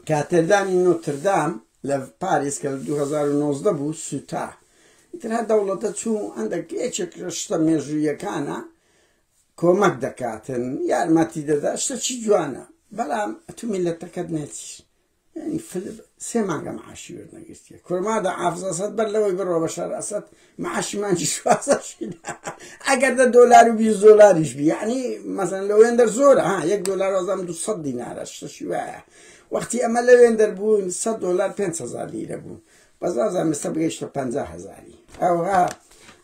کاتێدرانی نۆتردام لە پاریس کە لە دوو هەزار و نۆزدە بوو سوتا ئیتر هەر دەوڵەتە چوو هەندەک یەکێک لە شتە مێژوویەکانە کۆمەک دەکاتن یارمەتی دەدا شتە چی جوانە بەڵام ئەتو میلەتەکەت نێتیش یعنی فلب سێ مانگە معاشی وەرنەگرتیە کورمادە عافزەسەت بەر لەوەی بڕۆ بە شەر ئەسەد معاشی مانگی شوازدە شیدا ئەگەر دە دۆلار و بیست دۆلاریش بی یعنی مەسەن لە وێندەر زۆرە ها یەک دۆلار وازام دو سەد دینارە شتەشی وایە وەختی ئەمە لە وێندەر بوون سەد دۆلار پێنج هەزار لیرە بوو بەزازان مستە بگەیشتە پەنجا هەزاری ئەوها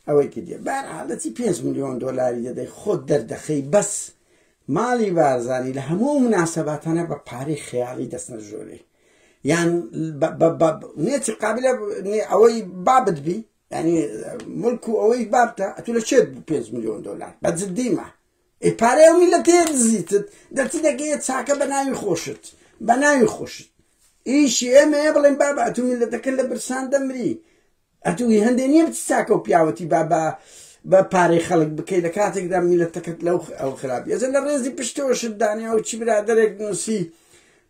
ئەوەی کردێ بار حالەتی پێنج میلیۆن دۆلاری دەدەی خۆت دەردەخەی بەس ماڵی بارزانی لە هەموو مناسەباتانە بە پارەی خەیاڵی دەستنە ژۆرەی یان نێتی قابلە ئەوەی بابت بی ینی ملک و ئەوەی بابتە ئەتو لە چێت 5 میلیۆن دلار بە جدیمە ئەی پارەیە و میلە تێ دزیتت دەرتی دەگەیە چاکە بە ناوی خۆشت بە ناوی خۆشت ئیشی ئێمەیە بڵێن بابە ئەتو میلەتەکە لە برسان دەمری ئەتو هی هەندێ نیە بچی چاکەو پیاوەتی با بە بە پارەی خەڵک بکەی لە کاتێکدا میلەتەکەت لەو ئەو خراپی ئەزە لە ڕێزی پشتەوە شت دانێ ئەو چی برادەرێک نووسی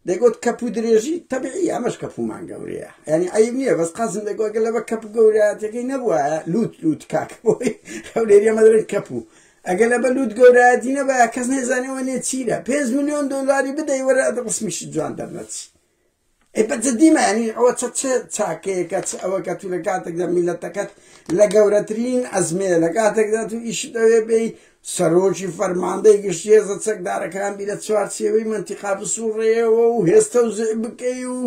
دەگوت کەپ و درێژی تەبعی ئەمەش کەپومان گەورەیە ینی عیب نییە بەس قازم دەگوگە لە بە کەپ گەوراتەکەی نەبووە لوت لوت کاک بۆی هەولێری مەدرن کەپ و ئەگە لە بە لوت گەورایەتی نەبە کەس نێزانەوە نێ چیرە پێنج میلیۆن دۆلاری بدەی وەرە ڕسمیش جوان دەرنەچی ئەی بە جدی مەعنی ئەوە چە چ چاکەیەکە چ ئەوە کە تو لە کاتێکدا میلەتەکەت لە گەورەترین ئەزمەیە لە کاتێکدا تو ئیش دەوێ بێی سەرۆکی فەرماندەی گشتی هێزە چەکدارەکان بی لە چوارچێوەی مەنتیقا بسوڕێەوە و هێستە و زع بکەی و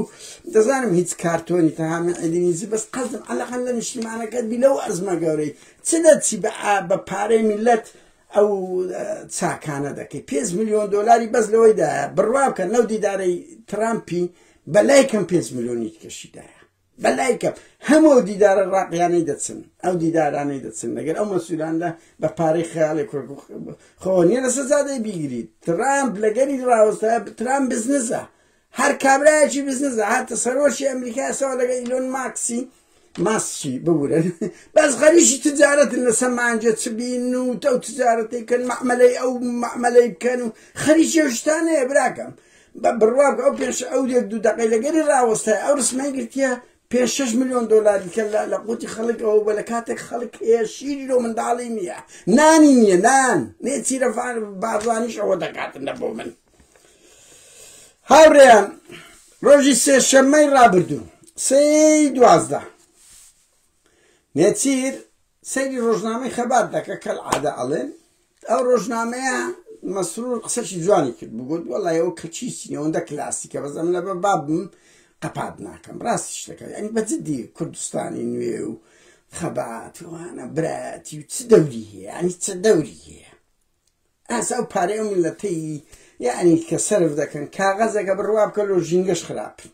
دەزانم هیچ کارتۆنی تەهامی عیدینیزی بەس قەزم عەلەقەن لە نیشتیمانەکەت بی لەو ئەزمە گەورەی چ دەچی بە بە پارەی میلەت ئەو چاکانە دەکەی پێنج ملیۆن دۆلاری بەس لەوەی دایە بڕوا بکەن لەو دیدارەی ترامپی بەلای کەم پێنج ملیۆنی کەشی دایە بەلای کەم هەموو ئەو دیدارە ڕاقیانەی دەچن ئەو دیدارانەی دەچن لەگەر ئەو مەسولاندا بە پارەی خەیاڵی کورد خۆ نیە لە سەزادەی بیگریت ترامپ لەگەری ڕاوەستە ترامپ بزنزە هەر کابرایەکی بزنس هاتە سەرۆکی ئەمریکا سەوە لەگە ئیلۆن ماکسی ماسکی ببورن بەس غەریشی تجارەتن لە سەمانجە چ بین و تەو تجارەتی کەن مەعمەلەی ئەو مەعمەلەی بکەن و خەریکی هشتانەیە براکەم بە بڕواب ئەو پێش ئەو دێک دوو دەقەی لەگەری ڕاوەستای ئەو رسمەی گرتیە پێ 6 میلیۆن دلاری کە لە قوتی خەڵک ئەوە بە لە کاتێک خەڵک هەیە شیری لۆ منداڵی نییە نانی نییە نان نێ چیرە بازانیش ئەوە دەکاتن لە بۆ من هاورێیان ڕۆژی سێشەممەی ڕابردوو سێی دوازدە نێچیر سەیری ڕۆژنامەی خەبات دەکە کەل عادە ئەڵێن ئەو ڕۆژنامەیە مەسرور قسەشی جوانی کرد بگوت وەڵی ئەو کەچیسی ئەوەندە کلاسیکە بەزەم لە بە بابم قەپات ناکەم ڕاستی شتەکە ئەنی بەجددی کوردستانی نوێ و خەباتوانە برایەتی و چ دەوری هەیە ئەنی چ دەوری هەیە ئاسا ئەو پارەی ئەو میللەتەی یەعنی کە سەرف دەکەن کاغەزەکە بڕ وا بکە لۆ ژینگەش خراپن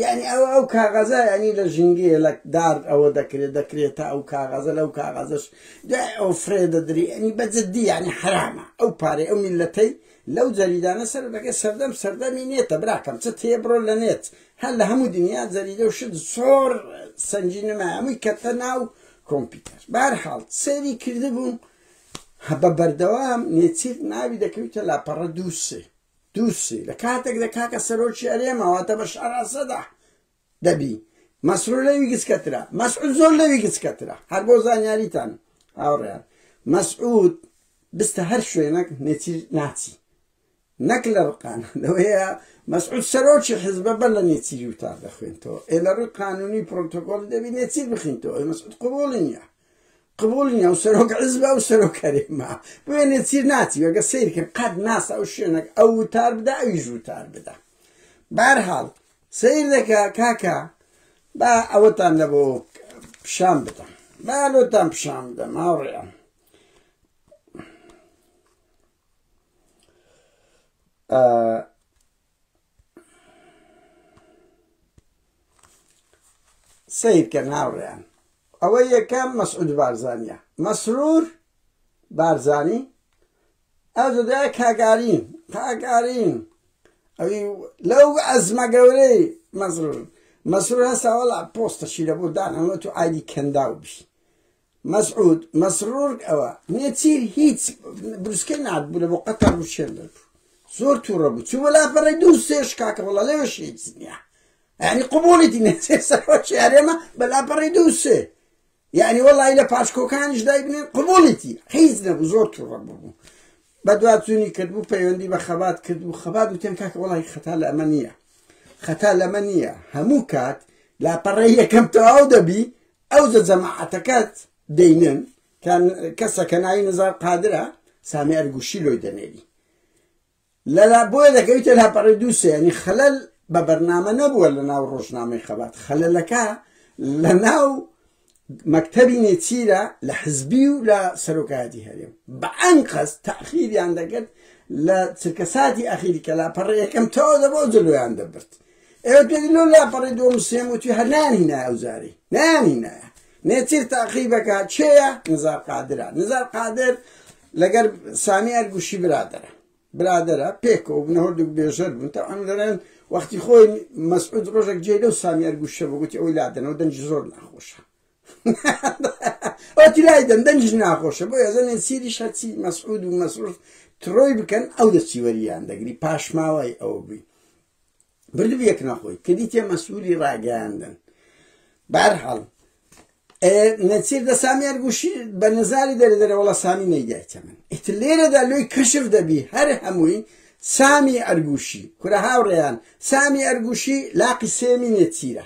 یەعنی ئەوە ئەو کاغەزە یەعنی لە ژینگەیە لە دار ئەوە دەکرێت دەکرێتە ئەو کاغەزە لەو کاغەزەش دوای ئەو فرێ دەدری یەعنی بە جدی یەعنی حەرامە ئەو پارەی ئەو میللەتەی لەو جەریدانە سەرف دەکەن سەردەم سەردەمی نێتە براکەم چت هەیە بڕۆ لە نێت هەر لە هەموو دنیا جەریدە و شت زۆر سەنگینەمە هەمووی کەتە ناو کۆمپیوتەر بەهەرحاڵ سەیری کردبووم هە بە بەردەوام نێچیر ناوی دەکەویتە لاپەڕە دوو سێ دوو سێ لە کاتێک لە کاکە سەرۆکی ئەرێما واتە بە شاراسەدا دەبی مەسرور لەوی گچکەترا مەسعود زۆر لەوی گچکەترا هەر بۆ زانیاریتان هاوڕێیان مەسعود بستە هەر شوێنەک نێچیر ناچی نەک لە رقان لەوەیە مەسعود سەرۆکی حیزبە بەر لە نێچیری وتار دەخوێنتەوە ئێ لە رووی قانونی پرۆتۆکۆڵی دەبی نێچیر بخینتەوە ئەی مەسعود قبوڵی نیە قبوڵی نیە و سەرۆک حیزبە و سەرۆک هەرێمە بۆیە نێچیر ناچی وەگە سەیرکرد قەت ناسا و شوێنەک ئەو وتار بدا ئەویش وتار بدا بارحاڵ سیر دەکە کاکە با ئەوەتان لە بۆ پیشان بدەم با لۆتان پیشان بدەم هاوڕێیان سیرکە ناوڕیان ئەوە یەکەم مەسعود بارزانە مەسرور بارزانی ئەو دەدا کاگارین کاگارین ئەوی لەو ئەزمە گەورەی مەسرور مەسرور هەساوەڵا پۆستەشی لە بۆ دانەوە تو ئایدی کەنداو بی مەسعود مەسرور ئەوە نێچیر هیچ بروسکەی نابوو لە بۆ قەتەر و شێر دەربوو زۆر تووڕە بوو چوو بەلاپەڕی دوو سێش کاکە وەڵا لەوێش هیچ نییە یعنی قوبوڵیتی نێچێ سەرۆکی هەرێمە بەلاپەڕی دوو سێ یعنی وەڵی لە پاشکۆکانیش دای بنێن قوبوڵیتی هیچ نەبوو زۆر تووڕە ببوو بە دواتونی کردبوو پەیوەندی بە خەبات کردبوو خەبات وتێن کاکە وڵی خەتا لە ئەمە نییە خەتا لەمە نییە هەموو کات لاپەڕی یەکەم تەواو دەبی ئەوجە جەماعەتەکەت دەینن کە کەسە کە ناوی نزار قادرە سامی ئەرگوشی لۆی دەنێری لەلا بۆیە دەکەویتە لاپەڕی دووسێ ینی خەلەل بە بەرنامە نەبووە لە ناو ڕۆژنامەی خەبات خەلەلەکە لە ناو مەکتەبی نێچیرە لە حزبی و لە سەرۆکایەتی هەرێم بە ئەنقەز تاخیریان دەکرد لە چرکەساتی ئەخیری کە لاپەڕی یەکەم تەواو دەبەوە جلویان دەبرد ئێوە تێدی لۆ لاپەڕی دووەم و سێم وتی هەر نانینایە ئەو جارەی نانینایە نێچیر تاقی بەکە چێە نزار قادرە نزار قادر لەگەر سامی ئەرگوشی برادرە برادرە پێکەوە بنە هەردووک بێژەر بوون تا ئەم دەرێن وەختی خۆی مەسعود ڕۆژێک جێ لەو سامی ئەرگوشە بگوتی ئەوی لادەنەوە دەنج زۆر ناخۆشە ئەوتی لای دەن دەنج ناخۆشە بۆ ێزە نێچیری شەچی مەسعود و مەسعود تڕۆی بکەن ئەو دەچی وەریان دەگری پاشماوای ئەو بووی بلوێک نەخۆی کردی تێ مەسوولی ڕاگەیاندن بارحاڵ نەچیر دە سامیان گوشی بە نەزاری دەرە دەرەوەڵە سامی نەیدایتە من ئیت لێرەدا لۆی کەشف دەبی هەر هەمووی سامی ئەرگوشی کورە هاوڕێیان سامی ئەرگوشی لاقی سێمی نێچیرە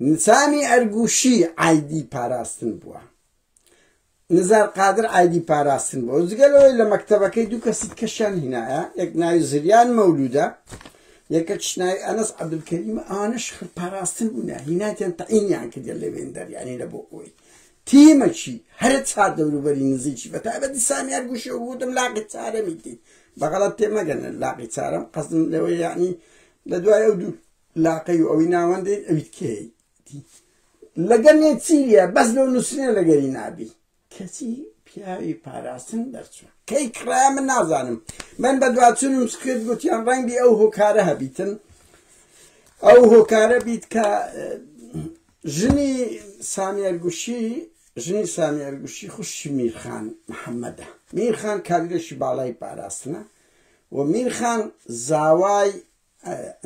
نسامی ئەرگوشی عایدی پاراستن بووە. نزار قادر عایدی پاراستن بووە. جگە لەوەی لە مەکتەبەکەی دوو کەسی دیکەشیان هینایە، یەک ناوی زریان مەولوودە، یەکەکش ناوی ئەنەس عەبدولکەریمە، ئەوانەش پاراستن بوونە، هینایانیان تەعینیان کردیان لە وێندەر، یانی لە بۆکۆی. تیمەکی هەرە چار دەوروبەری نزیکی بە تایبەتی سامی ئەرگوشی وگوتم لاقی چارەمیتی بەغەڵەت تێمەگەنە لاقی چارەم قەزم لەوە یعنی لە دوای ئەو دوو لاقەی و ئەوی ناوەندەی ئەویت کێیەتی لەگەلێ چیە بەس لۆ نووسنێ لەگەری نابی کەچی پیاوی پاراستن دەرچوو کەی کڕە من نازانم من بە دوچونم سکرێت گوتیان ڕەنگی ئەو هۆکارە هەبیتن ئەو هۆکارە بیت کە ژنی سامیێرگوشی ژنی سامیێرگوشی خوشی میرخان محەممەدە میرخان کاریرەشی باڵای پاراستنە و میرخان زاوای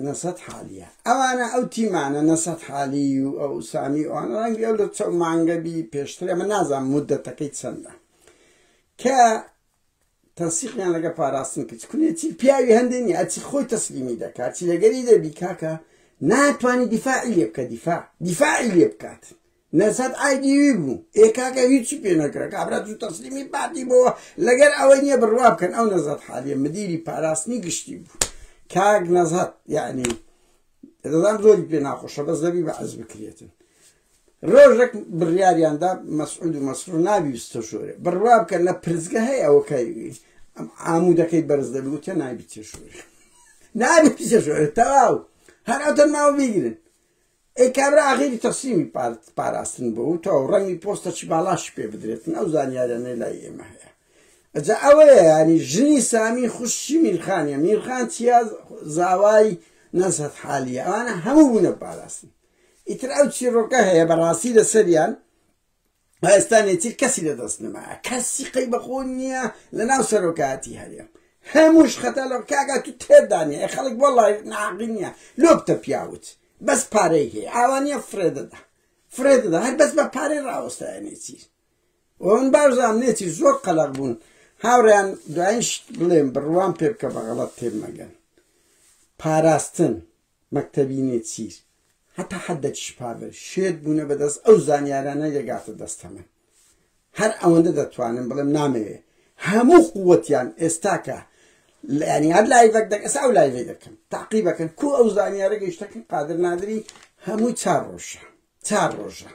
نەسەت حالیە ئەوانە ئەو تیمانە نەسەت حالی و ئەو سامی ئەوان ڕەنگی ئەو لە چەو مانگەبی پێشتر ئەمە نازان مدەتەکەی چەندە کە تەسیقیان لەگە پاراستن کچ کونێتی پیاوی هەندێنی ئەچی خۆی تەسلیمی دەکات چی لەگەری دەبی کاکە ناتوانانی دیفاعی لێ بکە دیفاع دیفاعی لێ بکات نەسەت ئای دیوی بوو ئێ کاکە هیچی پێ نەکرا کابرا دوو تەسلیمی پارتی بۆوە لەگەر ئەوەی نییە بڕوا بکەن ئەو نەزەت حالیە مدیری پاراستنی گشتی بوو کاک نەزەت یعنی دەزان زۆری پێ ناخۆشە بەس دەبی بە عەز بکرێتن ڕۆژێک بڕیاریاندا مەسعود و مەسرور نابیستە شۆرێ بڕوا بکە لە پرزگە هەیە ئەوە کاریگەی ئەم عامودەکەی بەرز دەبی وتە نابی تێشۆرێ نابی تێشۆرێ تەواو هەر ئەتەن ماوە بیگرن ئەی کابرا ئاغیری تەسلیمی پارت پاراستن بۆ و تۆ ڕەنگی پۆستەچی باڵاشی پێ بدرێتن ئەو زانیارانەی لای ئێمە هەیە ئەجا ئەوەیە ینی ژنی سامی خوشی میرخانیە میرخان چیا زاوای نەزهت حالیە ئەوانە هەموو بوونە پاراستن ئیتر ئەو چیرۆکە هەیە بەڕاستی لەسەریان ئێستا نێچیر کەسی لە دەست نەمایە کەسی قەی بەخۆ نییە لە ناو سەرۆکایەتی هەرێم هەمووش خەتا لە کاگا تو تێدانێ خەڵک بۆ لای ناقی نییە لۆبتە پیاوت بەس پارەی هەیە ئاوانە فرێ دەدا فرێ دەدا هەر بەس بە پارەی ڕاوەستایە نێچیر ئەوم باشزان نێچیر زۆر قەلق بوون هاوڕیان دوایش بڵێم بڕوان پێ بکە بە غەڵەت تێمەگەن پاراستن مەکتەبی نێچیر، هەتا حەدەکیش پاڤل شێت بوونە بەدەست ئەو زانیارانەی دەگاتە دەستە من. هەر ئەوەندە دەتوانم بڵێم نامەوێ هەموو قووەتیان ئێستاکە یانی هەر لایڤەک دەک ئێستا ئەو لایڤەی دەکەم تاقیبەکەن کو ئەو زانیارە گەیشتەکەن قادر نادری هەمووی چار ڕۆژە چار ڕۆژە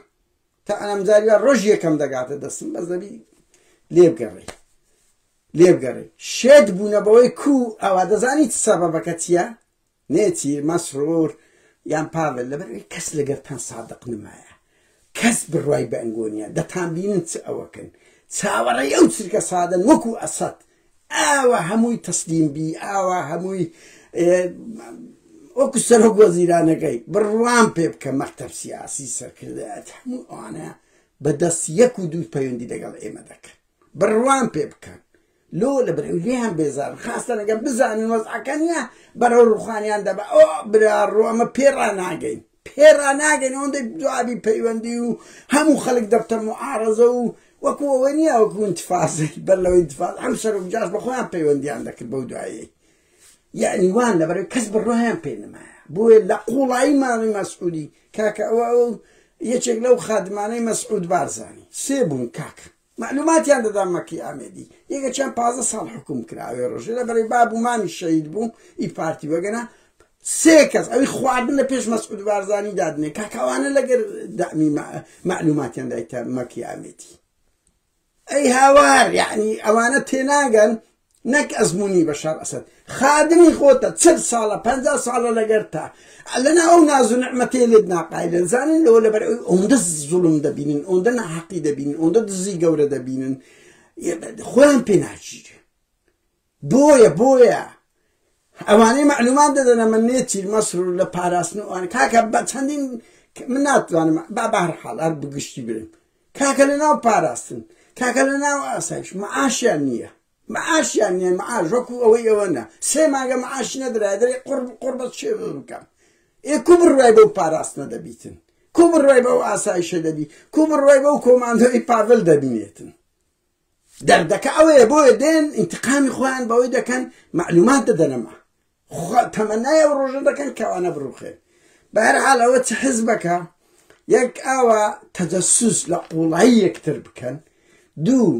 تا ئەمجاری ڕۆژ یەکەم دەگاتە دەستم بەس دەبی لێبگەڕێ لێبگەڕێ شێت بوونە بەوەی کو ئەوە دەزانیت سەبەبەکە چییە؟ نێچی، مەسرور، یان پاڤێل، لەبەرئەوەی کەس لەگەرتان سادق نمایە، کەس بڕوای بە ئەنگۆ نیە، دەتانبینن چ ئەوەکن، چاوەڕێی ئەو چرکە سادەن وەکو ئەسەد، ئاوا هەمووی تەسلیم بی، ئاوا هەمووی وەکو سەرۆک وەزیرانەکەی، بڕوام پێ بکە مەکتەب سیاسی، سەرکردایەتی، هەموو ئەوانە بەدەست یەک و دوو پەیوەندی لەگەڵ ئێمە دەکەن، بڕوام پێ بکەن. لۆ لە برنگیان بێزارن خاستەن ئەگەر بزانن وەزعەکە نیە بەرەو روخانیان دەبەن ئۆ براڕۆ ئەمە پێ راناگەین پێ راناگەین ئەوەندەی جوابی پەیوەندی و هەموو خەلک دەبتە موعارەزە و وەکو ئەوە نیە وەکو ئینتفازەی بەر لەوەی ئینتفاز ئەم سەرۆک جاش بە خۆیان پەیوەندیان دەکرد بەو دوایەی یعنی وان لەبەرەوەی کەس بڕۆیان پێ نمایە بۆیە لە قوڵایی ماڵی مەسعودی کاکە ئەوە ئەو یەکێک لەو خادمانەی مەسعود بارزانی سێ بوون کاکە مەعلوماتیان دەدا مەکی ئامێدی یەکەکیان پازدە ساڵ حکوم کرا ئەوێ ڕۆژێ لە بەرەی باب و مامی شەید بوو ئی پارتی وەگەنا سێ کەس ئەوی خواردن لە پێش مەسعود بارزانی دادنێ کاکاوانە لەگەر دامی مەعلوماتیان دایتە مەکی ئامێدی ئەی هاوار یعنی ئەوانە تێناگەن نەک ئەزمونی بەشار ئەسەد خادمی خۆتە چل ساڵە پەنجا ساڵە لەگەرتا لەنا ئەو ناز و نعمەتەیە لێت ناقایلن زانن لەوە لەبەر ئەوی ئەوەندە زوڵم دەبینن ئەوەندە ناحەقی دەبینن ئەوەندە دزی گەورە دەبینن خۆیان پێ ناگیرێ بۆیە بۆیە ئەوانەی معلومان دەدەنە من نێچیر مەسر لە پاراستن ئەوان کاکە بە چەندین من ناتوانم با بەهر حاڵ هەر بگشتی برم کاکە لەناو پاراستن کاکە لەناو ئاسایش معاشیان نییە معاشیان نییە معاش وەکو ئەوەی ئەوە نا سێ مانگە معاش نەدرای دەرێ قڕ قڕ بەس شێ بکەم ئێ کو بڕای بەو پاراستنە دەبیتن کو بڕای بەو ئاسایشە دەبی کو بڕای بەو کۆماندۆی پاڤل دەبینێتن دەردەکە ئەوەیە بۆیە دێن ئینتقامی خۆیان بەوەی دەکەن معلومات دەدەنەما تەمەنای ئەو ڕۆژە دەکەن کەوانە بڕوخێن بەهرحال ئەوە چ حزبەکە یەک ئاوا تەجەسوس لە قوڵایی یەکتر بکەن دوو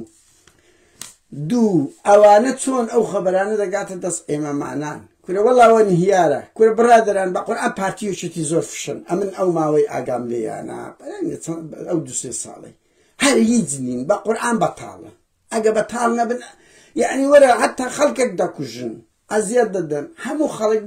دوو ئەوانە چۆن ئەو خەبەرانە دەگاتە دەست ئێمەمانان کورە وەڵاوە نهیارە کورە بڕادران بە قورآ پارتیوشێتی زۆر فشن ئەمن ئەو ماوەی ئاگام لێیانە ئەو دو سێ ساڵی هەر هیچ نین بە قورعان بەتاڵە ئەگە بەتاڵ نەبن یانی وەرە هەتا خەڵکێک دەکوژن ئەزیەت دەدەن هەموو خەڵک